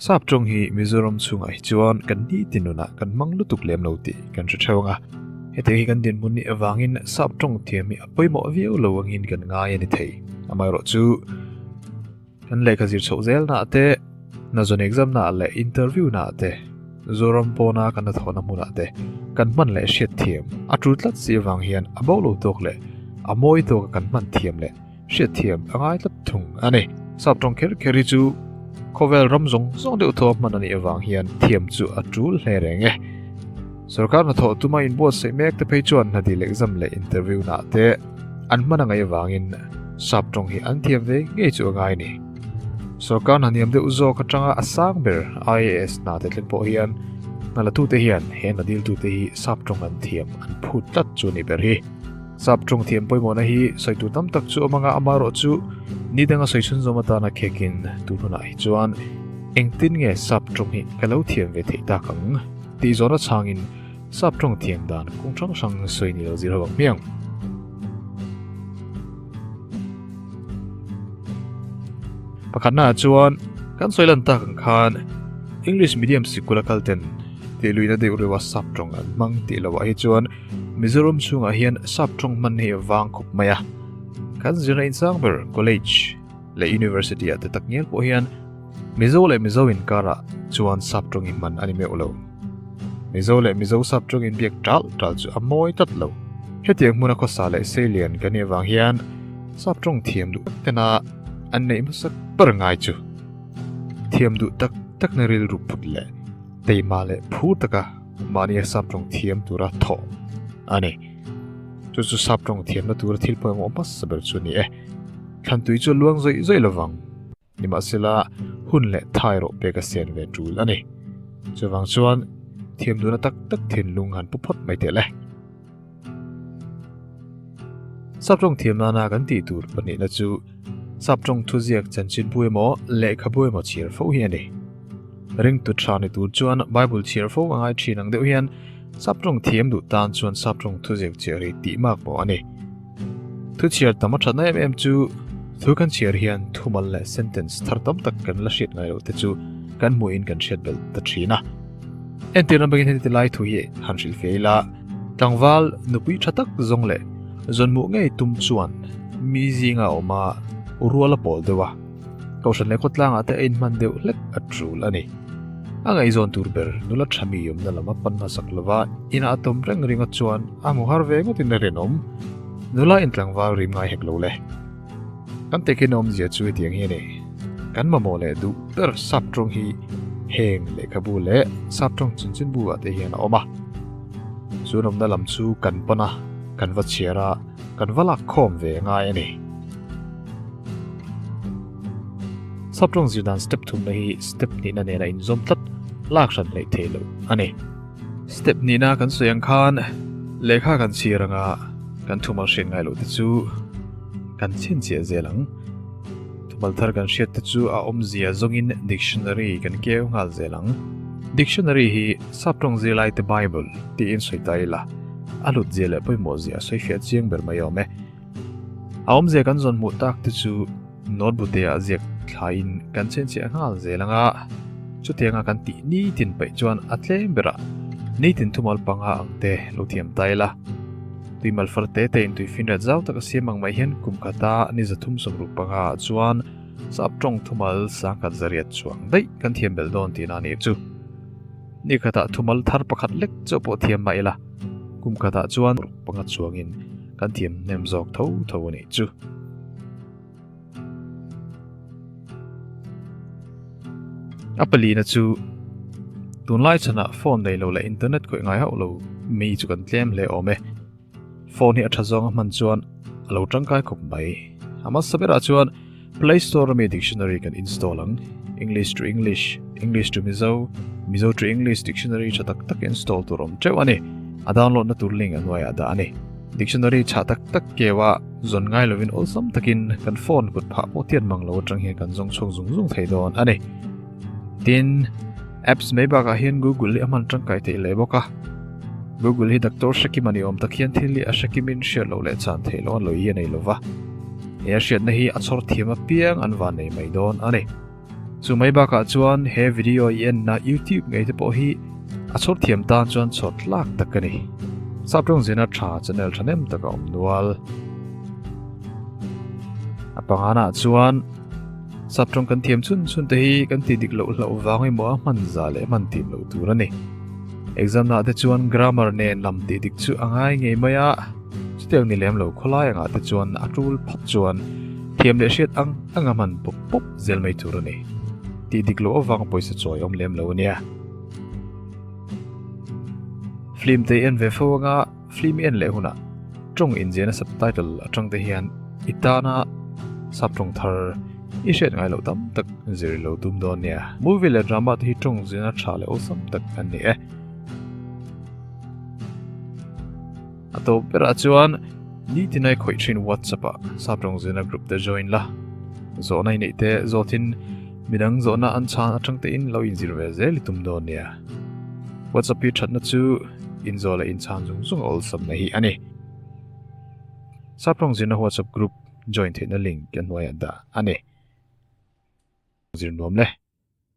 Sap tawng hi Mizoram chunga hi chuan kan ni ti nuna kan mang lutuk lem lo ti kan hre theu anga heti hi kan din mun ni awangin sap tawng thiam hi a pawimawh viau lo angin kan ngai a ni thei amai rawh chu Kan lehkha zir chhoh zel nah te, Nazon exam nah leh interview nah te, Zoram pawna kan la thawhna hmunah te, kan hman leh hriat thiam a tul tlat si avang hian a bo lo tawk leh a mawi tawka kan hman thiam leh hriat thiam a ngai tlat thung a ni. Sap tawng kher kher hi chu khawvel ram zawng zawng deuh thaw hman a nih avang hian thiam chu a tul hle reng e. Sorkar hnathawh tuma inbuatsaih mek te phei chuan hna dil exam leh interview hnah te an hman a ngaih avangin sap tawng hi an thiam ve ngei chu a ngai a ni. Sorkar hna niam deuh zawk atanga a sang ber IAS hna te tlem pawh hian hna la tute hian he hna dil tute hi sap tawng an thiam an phut tlat chu a nih ber hi. Sap tawng thiam pawimawhna hi sawi tur tam tak chu a awm anga ama erawh chu ni danga sawi chhunzawm atana khekin tun hunah hi chuan engtin nge sap tawng hi ka lo thiam ve theih tak ang? tih zawrh a chhangin sap tawng thiam dan kawng hrang hrang sawi ni lo zir ho ang hmiang. Pakhatnaah chuan kan sawi lan tak ang khan English medium sikul a kalten tih luina deuh reuha sap tawng an hmang tih loah hi chuan Mizoram chhungah hian sap tawng hman hi a vang khawp mai a. Kan zirna in sang ber college leh university ah te tak ngial pawh hian Mizo leh Mizo inkarah chuan sap tawngin man a ni meuh lo. Mizo leh Mizo sap tawngin biak tal tal chu a mawi tlat lo. Hetiang hmuna khawsa leh seilian kan nih avang hian sap tawng thiam duh tena an neih hmasa ber ngai chu. Thiam duh tak tak na ril ru put leh teima leh phu taka mahnia sap tawng thiam tura thaw a ni. Chu chu sap tawng thiamna tura thil pawimawh hmasa ber chu ni e. Thlantui chu a luang zaih zaih lovang. Nimahsela, hun leh thai rawh pek a sian ve tul a ni. Chuvang chuan thiam duna tak tak thinlung han pu phawt mai teh le. Sap tawng thiam nana kan tih tur pahnihna chu sap tawng thuziak chanchinpu emaw lehkhabu emaw chhiar fo hi a ni. Ringtut tha ni tur chuan Bible chhiar fo a ngai thin ang deuh hian sap tawng thiam duh tan chuan sap tawng thuziak cheh rih tih mak maw a ni. Thu chhiar tam a thatna em em chu thu kan chhiar hian thumal leh sentence thar tam tak kan la hriat ngai loh te chu kan hmuh in kan hriat belh ta thin a entir lam bekin heti lai thu hi han hril fe ila tlangval nupui tha tak zong leh zawnmuh ngei tum chuan mi zinga awma ruala pawl deuha Kohhran leh khawtlangah te a inhman deuh hlek a tul a ni. A ngaihzawn tur ber nula tha mi awmna lama pan hmasak lova inah a tum reng ringa chuan a hmu har ve ngawtin a rinawm. Nula in tlangval rim ngai hek lo le. Kan tekin a awmzia chu hetiang hi a ni, kan mamawh leh duh ber sap tawng hi heng lehkhabu leh sap tawng chinchin bulah te hian a awm a. Chu nawmna lam chu kan pan a, kan va chhiar a, kan va lak khawm ve ngai a ni. Sap rawng zir dan step thumna hi step nihna nena inzawm tlat lak hran hlei thei lo a ni. Step nihna kan sawi ang khan lehkha kan chhir anga kan thumal hriat ngai loh te chu kan chhin chiah zel ang. Thumal thar kan hriat te chu a awmzia zawngin dictionary kan keu nghal zel ang. Dictionary hi sap rawng zir laite Bible tiin sawi ta ila a hlut zia leh pawimawh zia sawi fiah chiang ber mai awm e. A awm zia kan zawn hmuh tak te chu note bu te ah ziak thlai in kan chen cheh nghal zel ang a. Chuti anga kan tih ni tin paih chuan a tlem ber a ni tin thumal panga ang te lo thiam ta ila. Tui mal far te te in tui fin rat zau tak a siam ang mah hian kum khat a ni za thum sawm ruk panga ah chuan sap tawng thumal sang khat za riat chuang daih kan thiam bel dawn tihna a nih chu. Ni khatah thumal thar pakhat lek chu pawh thiam mah ila, kum khatah chuan ruk panga chuangin kan thiam hnem zawk tho tho a nih chu. A palina chu tunlai chhunah phone neilo leh internet khawih ngai hauh lo mi chu kan tlem hle awm e. Phone hi a tha zawnga hman chuan a lo tangkai khawp mai. A hmasa berah chuan Play Store ami Dictionary kan install ang. English to English, English to Mizo, Mizo to English Dictionary tha tak tak install tur awm teuh a ni. A download na tur link a hnuaiah dah a ni. Dictionary tha tak tak keu a zawn ngai lovin awlsam takin kan phone kut phah pawh tiat mang lo atang hian kan zawng chhuak zung zung thei dawn a ni. tin apps mai bakah hian google hi a hman tangkai thei leh bawk a google hi doctor hrekim a ni awm tak hian thil hi a hrekimin hriat loh leh chhan thei loh a lui hi a nei lo va he a hriatna hi a chhawr thiam a piang an van nei mai dawn a ni chu mai bakah chuan he video i enna youtube ngei te pawh hi a chhawr thiam tan chuan chhawt tlak tak a ni sap tawng zina tha channel tha nem tak a awm nual a pangana chuan Sap tawng kan thiam chun chun te hi kan ti dik loh hlau vang emaw a hman za leh hman tim loh tur a ni. Exam nahte chuan grammar nen lam tih dik chu a ngai ngei mai a, chutiang ni lem lo khawlai angah te chuan a tul phawt chuan thiam leh hriat ang ang a hman pawp pawp zel mai tur a ni. Ti dik loh avang pawisa chuai awm lem lo a nia. Flim te en ve fo anga. Film en leh hunah tawng inziahna subtitle atang te hian i tana sap tawng thar i hriat ngai lo tam tak zir lo tum dawn nia movie leh drama te hi tawng ziahna tha leh awesome tak an ni e a to bera chuan ni tinai khawih thin whatsapp a sap tawng ziahna group te join la zawhna i neih te zawtin midang zawhna an chhan atang te in lo inzir ve zel i tum dawn nia whatsapp hi thatna chu inzawla inchhang zung zunga awlsam mai hi a ni. Saprawng zirna WhatsApp group join theihna link kan hnuaiah dah a ni. Zir nuam le.